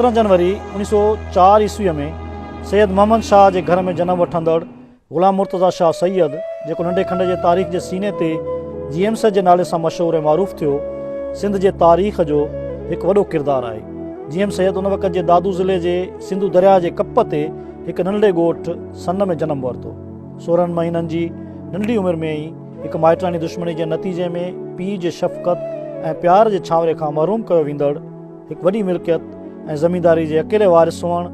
سترهن جنوري اوڻيهه سؤ چار عيسويء ۾ سيد محمد شاهه جي گهر ۾ جنم وٺندڙ غلام مرتضيٰ شاهه سيد جيڪو ننڍي کنڊ جي تاريخ جي سيني تي جي ايم سيد جي نالي سان مشهور ۽ معروف ٿيو سنڌ جي تاريخ جو هڪ وڏو ڪردار آهي جي ايم سيد ان وقت جي دادو ضلعي جي سنڌو درياء جي ڪپ تي هڪ ننڍڙي ڳوٺ سن ۾ جنم ورتو سورهن مهينن جي ننڍي عمر ۾ ئي هڪ مائٽراڻي دشمني جي نتيجي ۾ پيء جي شفقت ۽ پيار جي ڇانوري کان محروم ڪيو ويندڙ هڪ وڏي ملڪيت ۽ زمينداري جي اڪيلي وارث هئڻ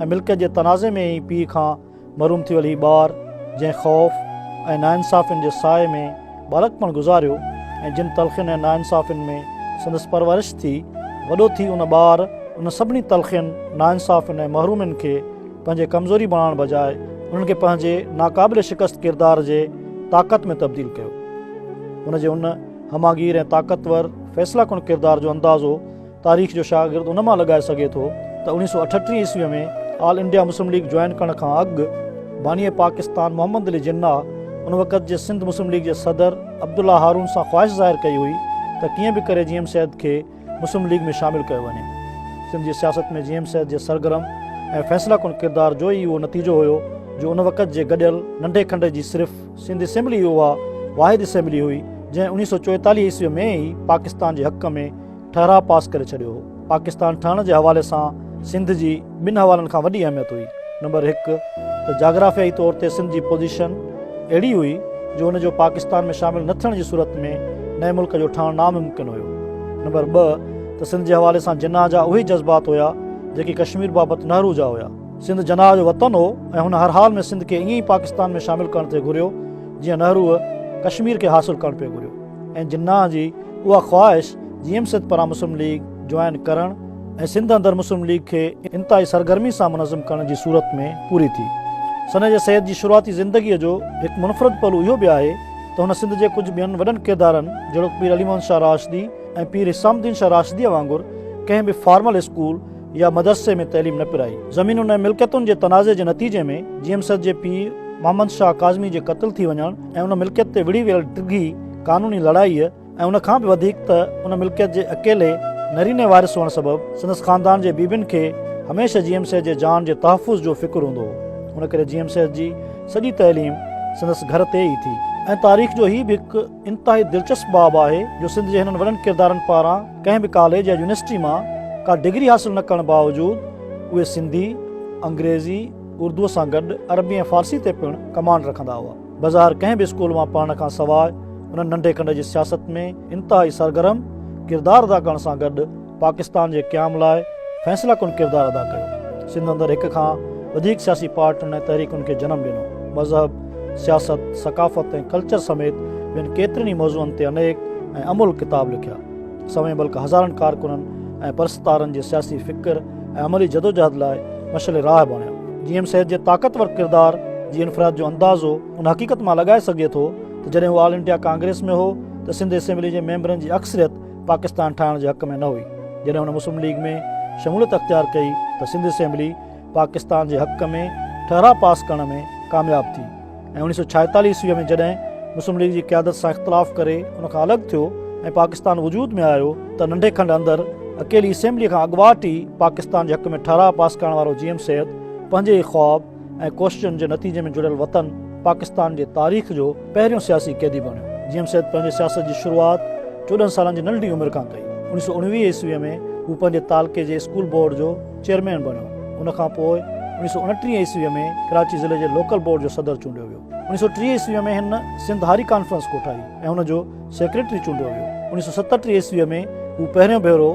۽ ملڪيت جي تنازعي ۾ ئي پيء کان محروم ٿي ويل هي ٻار جنهن خوف ۽ ناانصافين جي سائي ۾ ٻالڪپڻ گذاريو ۽ جن تلخين ۽ ناانصافين ۾ سندس پرورش ٿي وڏو ٿي ان ٻار ان سڀني تلخين ناانصافين ۽ محرومين کي پنهنجي ڪمزوري بڻائڻ بجاء انهن کي پنهنجي ناقابل شڪست ڪردار جي طاقت ۾ تبديل ڪيو. هن جي ان همهگير ۽ طاقتور فيصله ڪن ڪردار جو اندازو تاريخ جو شاگرد ان مان لڳائي سگهي ٿو ته اوڻيهه سؤ اٺٽيهه عيسويء ۾ all India Muslim league join ڪرڻ کان اڳ باني پاڪستان محمد علي جناح ان وقت جي سنڌ مسلم ليگ جي صدر عبدالله هارون سان خواهش ظاهر ڪئي هئي ته ڪيئن به ڪري جي ايم سيد کي مسلم ليگ ۾ شامل ڪيو وڃي. سنڌ جي سياست ۾ جي ايم سيد جي سرگرم ۽ فيصله ڪن ڪردار جو ئي اهو نتيجو هيو جو ان وقت جي گڏيل ننڍي کنڊ جي صرف سنڌ اسيمبلي ئي اها واحد اسيمبلي هئي جنهن اوڻيهه سؤ چوئيتاليهه عيسوي ۾ ئي پاڪستان جي حق ۾ ٺهراء پاس ڪري ڇڏيو هو. پاڪستان ٺهڻ جي حوالي سان سنڌ جي ٻن حوالن کان وڏي اهميت هئي. نمبر هڪ ته جاگرافيائي طور تي سنڌ جي پوزيشن اهڙي هئي جو ان جو پاڪستان ۾ شامل نه ٿيڻ جي صورت ۾ نئين ملڪ جو ٺهڻ ناممڪن هيو. نمبر ٻه ته سنڌ جي حوالي سان جناح جا اهي جذبات هيا جيڪي ڪشمير بابت نهرو جا هيا. سنڌ جناح جو وطن هو ۽ هن هر حال ۾ سنڌ کي ائين ئي پاڪستان ۾ شامل ڪرڻ پئي گهريو جيئن نهروء ڪشمير کي حاصل ڪرڻ پئي گهريو ۽ جناح جي اها خواهش جي ايم سيد پاران مسلم ليگ جوائن ڪرڻ ۽ سنڌ اندر مسلم ليگ کي انتهائي سرگرمي سان منظم ڪرڻ جي صورت ۾ پوري ٿي. سنه جي سيد جي شروعاتي زندگيء جو هڪ منفرد پهلو اهو به آهي ته هن سنڌ جي ڪجهه ٻين وڏن ڪردارن جهڙوڪ پير علي محمد شاهه راشدي ۽ پير حسام الدين شاهه راشديء وانگر ڪنهن به فارمل اسڪول يا مدرسي ۾ تعليم نه پرائي. زمينن ۽ ملڪيتن جي تنازعي جي نتيجي ۾ جي ايم سيد جي پيء محمد شاهه ڪاظمي جي قتل ٿي وڃڻ ۽ ان ملڪيت تي وڙهي ويل ڊگهي قانوني لڙائيء ۽ ان کان به وڌيڪ ته ان ملڪيت جي اڪيلي نريني وارث هئڻ سبب سندس خاندان جي بيبين کي هميشه جي ايم سيد جي جان جي تحفظ جو فڪر هوندو هو. ان ڪري جي ايم سيد جي سڄي تعليم سندس گهر تي ئي ٿي. ۽ تاريخ جو هي به هڪ انتهائي دلچسپ باب آهي جو سنڌ جي هنن وڏن ڪردارن پاران ڪنهن به ڪاليج يا يونيورسٽي مان ڪا ڊگري حاصل نه ڪرڻ باوجود اهي سنڌي، انگريزي، اردوء سان گڏ عربي ۽ فارسي تي پڻ ڪمانڊ رکندا هئا. بظاهر ڪنهن به اسڪول مان پڙهڻ کان سواء انهن ننڍي کنڊ جي سياست ۾ انتهائي سرگرم ڪردار ادا ڪرڻ سان گڏ پاڪستان جي قيام لاء فيصله ڪن ڪردار ادا ڪيو. سنڌ اندر هڪ کان وڌيڪ سياسي پارٽين ۽ تحريڪن کي جنم ڏنو. مذهب، سياست، ثقافت ۽ ڪلچر سميت ٻين ڪيترن ئي موضوعن تي انيڪ ۽ املهه ڪتاب لکيا. سوين بلڪه هزارن ڪارڪنن ۽ پرستارن جي سياسي فڪر، ۽ عملي جدوجهد لاء مشعل راهه بڻيا. جي ايم سيد جي طاقتور ڪردار جي انفراد جو اندازو ان حقيقت مان لڳائي سگهجي ٿو ته جڏهن هو آل انڊيا ڪانگريس ۾ هو ته سنڌ اسيمبلي جي ميمبرن جي اڪثريت پاڪستان ٺاهڻ جي حق ۾ نه هئي جڏهن هن مسلم ليگ ۾ شموليت اختيار ڪئي ته سنڌ اسيمبلي پاڪستان جي حق ۾ ٺهراء پاس ڪرڻ ۾ ڪامياب ٿي. ۽ اوڻيھ سؤ ڇاهيتاليھ عيسويء ۾ جڏهن مسلم ليگ جي قيادت سان اختلاف ڪري ان کان الڳ ٿيو ۽ پاڪستان وجود ۾ آيو ته ننڍي کنڊ اندر اڪيلي اسيمبليء کان اڳواٽ ئي پاڪستان جي حق ۾ ٺهراء پاس ڪرڻ وارو جي ايم سيد پنهنجي ئي خواب ۽ ڪوششن جي نتيجي ۾ جڙيل وطن پاڪستان جي تاريخ جو پهريون سياسي قيدي بڻيو. جي ايم سيد پنهنجي سياست جي شروعات چوڏهن سالن جي ننڍڙي عمر کان ڪئي. اوڻيھ سؤ اڻويھ عيسويء ۾ هو پنهنجي تعلقي جي اسڪول بورڊ جو چيئرمين بڻيو. ان کان پوء اوڻيهه سؤ اڻٽيهه عيسويء ۾ ڪراچي ضلعي جي لوڪل بورڊ جو صدر چونڊيو ويو. اوڻيهه سؤ ٽيهه عيسويء ۾ هن سنڌ هاري ڪانفرنس ڪوٺائي ۽ ان جو سيڪريٽري چونڊيو ويو. اوڻيهه سؤ ستهٺ عيسويء ۾ هو پهريون ڀيرو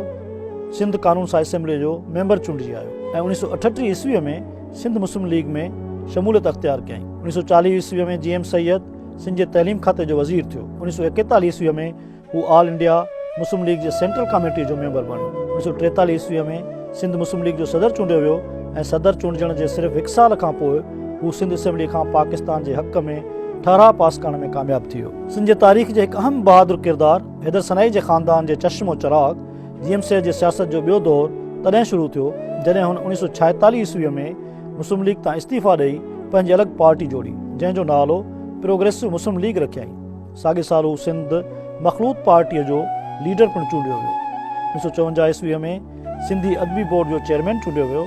سنڌ قانون ساز اسيمبليء جو ميمبر چونڊجي آيو ۽ اوڻيهه سؤ اٺٽيهه عيسويء ۾ سنڌ مسلم ليگ ۾ شموليت اختيار ڪيائين. اوڻيهه سؤ چاليهه عيسويء ۾ جي ايم سيد سنڌ جي تعليم کاتي جو وزير ٿيو. اوڻيهه سؤ ايڪيتاليهه عيسويء ۾ هو آل انڊيا مسلم ليگ جي سينٽرل ڪاميٽيء جو ميمبر بڻيو. اوڻيھ سؤ ٽيتاليھ عيسويء ۾ سنڌ مسلم ليگ جو صدر چونڊيو ويو ۽ صدر چونڊجڻ جي صرف هڪ سال کان پوء هو سنڌ اسيمبليء کان پاڪستان جي حق ۾ ٺهراء پاس ڪرڻ ۾ ڪامياب ٿي ويو. سنڌ جي تاريخ جي هڪ اهم بهادر ڪردار حيدر سنائي جي خاندان جي چشم و چراغ جي ايم سيد جي سياست جو ٻيو دور تڏهن شروع ٿيو، جڏهن هن اوڻيھ سؤ ڇائيتاليھ عيسويء ۾ مسلم ليگ تان استعيفيٰ ڏئي پنهنجي الڳ پارٽي جوڙي، جنهن جو نالو پروگريسو مسلم ليگ رکيائين. ساڳئي سال هو سنڌ مخلوط پارٽيء جو ليڊر پڻ چونڊيو ويو. اڻيهه سؤ چونجاهه عيسويء ۾ سنڌي ادبي بورڊ جو چيئرمين چونڊيو ويو.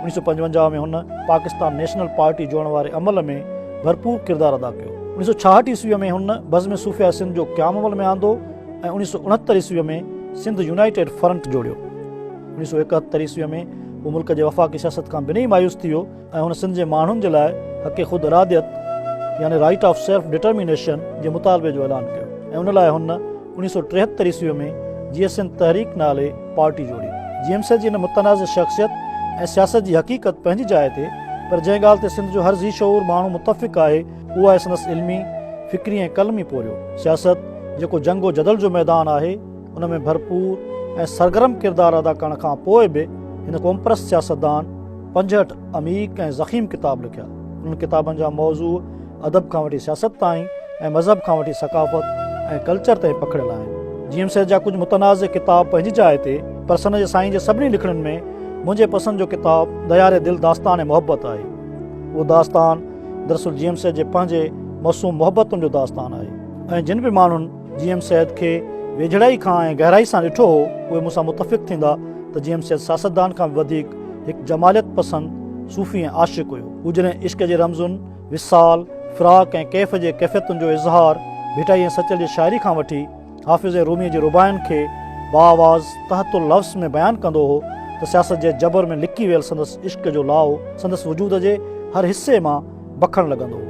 اڻيهه سؤ پنجونجاهه ۾ هن پاڪستان نيشنل پارٽي جوڙڻ واري عمل ۾ ڀرپور ڪردار ادا ڪيو. اڻيهه سؤ ڇاهٺ عيسويء ۾ هن بزم صوفياء سنڌ جو قيام عمل ۾ آندو ۽ اڻيهه سؤ اڻهتر عيسويء ۾ سنڌ يونائيٽيڊ فرنٽ جوڙيو. اڻيهه سؤ ايڪهتر عيسويء ۾ هو ملڪ جي وفاقي سياست کان بنهي مايوس ٿي ويو. ۽ هن سنڌ جي ماڻهن جي لاء حق خود اراديت يعني Right of Self Determination جي مطالبي جو اعلان ڪيو ۽ ان لاء هن اوڻيهه سؤ ٽيهتر عيسوي ۾ جيئي سنڌ تحريڪ نالي پارٽي جوڙي. جيئي سنڌ جي هن متنازع شخصيت ۽ سياست جي حقيقت پنهنجي جاء تي پر جنهن ڳالهه تي سنڌ جو هر ذي شعور ماڻهو متفق آهي اهو آهي سندس علمي، فڪري ۽ قلمي پورهيو. سياست جيڪو جنگ و جدل جو ميدان آهي، ان ۾ ڀرپور ۽ سرگرم ڪردار ادا ڪرڻ کان پوء به هن قومپرست سياستدان پنجهٺ عميق ۽ ضخيم ڪتاب لکيا. انهن ڪتابن جا موضوع ادب کان وٺي سياست تائين ۽ مذهب کان وٺي ثقافت ۽ ڪلچر تائين پکڙيل آهن. جي ايم سيد جا ڪجهه متنازع ڪتاب پنهنجي جاء تي پر سن جي سائين جي سڀني لکڻين ۾ منهنجي پسند جو ڪتاب دياري دل داستان ۽ محبت آهي. اهو داستان دراصل جي ايم سيد جي پنهنجي موسوم محبتن جو داستان آهي ۽ جن به ماڻهن جي ايم سيد کي ويجهڙائي کان ۽ گهرائي سان ڏٺو هو اهي مون سان متفق ٿيندا ته جي ايم سيد سياستدان کان به وڌيڪ هڪ جماليت پسند صوفي ۽ عاشق هيو. هو جڏهن عشق جي رمزن، وصال، فراق ۽ ڪيف جي ڪيفيتن جو اظهار ڀٽائي ۽ سچل جي شاعري کان وٺي حافظ ۽ روميء جي رباعين کي باآواز تحت اللفظ ۾ بيان ڪندو هو ته سياست جي جبر ۾ لڪي ويل سندس عشق جو لاهو سندس وجود جي هر حصي مان بکڻ لڳندو هو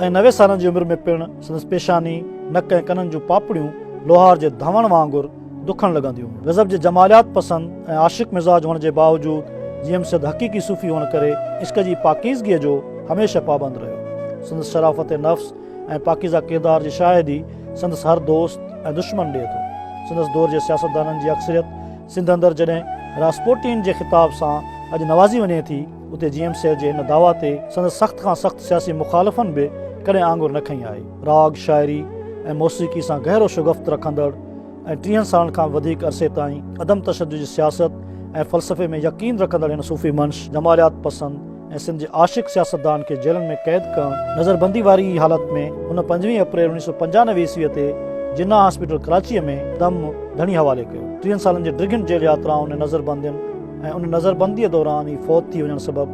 ۽ نوي سالن جي عمر ۾ پڻ سندس پيشاني، نڪ ۽ ڪنن جون پاپڙيون لوهار جي ڌونئڻ وانگر دکڻ لڳنديون هيون. غضب جي جماليات پسند ۽ عاشق مزاج هئڻ جي باوجود جي ايم سيد حقيقي صوفي هئڻ ڪري عشق جي پاڪيزگيء جو هميشه پابند رهيو. سندس شرافت نفس ۽ پاڪيزه ڪردار جي شاهدي سندس هر دوست ۽ دشمن ڏئي ٿو. سندس دور جي سياستدانن جي اڪثريت سنڌ اندر جڏهن راسپوٽين جي خطاب سان اڄ نوازي وڃي ٿي، اتي جي ايم سيد جي هن دعويٰ تي سندس سخت کان سخت سياسي مخالفن به ڪڏهن آڱر نه کنئي آهي. راڳ، شاعري ۽ موسيقي سان گهرو شگفت رکندڙ ۽ ٽيهن سالن کان به وڌيڪ عرصي تائين عدم تشدد جي سياست ۽ فلسفي ۾ يقين رکندڙ هن صوفي منش، جماليات پسند ۽ سنڌ جي عاشق سياستدان کي جيلن ۾ قيد ڪرڻ، نظربندي واري ئي حالت ۾ هن پنجويهه اپريل اوڻيهه سؤ پنجانوي عيسويء تي جناح هاسپيٽل ڪراچيء ۾ دم ڌڻي حوالي ڪيو. ٽيهن سالن جي ڊگهين جيل ياترائن ۽ نظربندين، ۽ ان نظربنديء دوران ئي فوت ٿي وڃڻ سبب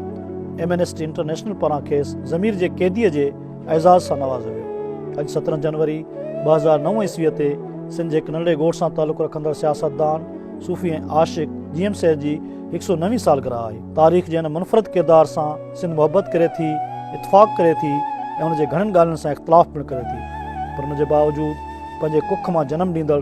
ايمنسٽي انٽرنيشنل پاران کيس ضمير جي قيديء جي اعزاز سان نوازيو ويو. اڄ سترهن جنوري ٻه هزار نو عيسويء تي سنڌ جي هڪ ننڍڙي ڳوٺ سان تعلق رکندڙ سياستدان، صوفي ۽ عاشق جي ايم سيد جي هڪ سئو نوين سالگرهه آهي. تاريخ جي هن منفرد ڪردار سان سنڌ محبت ڪري ٿي، اتفاق ڪري ٿي ۽ ان جي گهڻين ڳالهين سان اختلاف پڻ ڪري ٿي، پر ان جي باوجود پنهنجي ڪک مان جنم ڏيندڙ،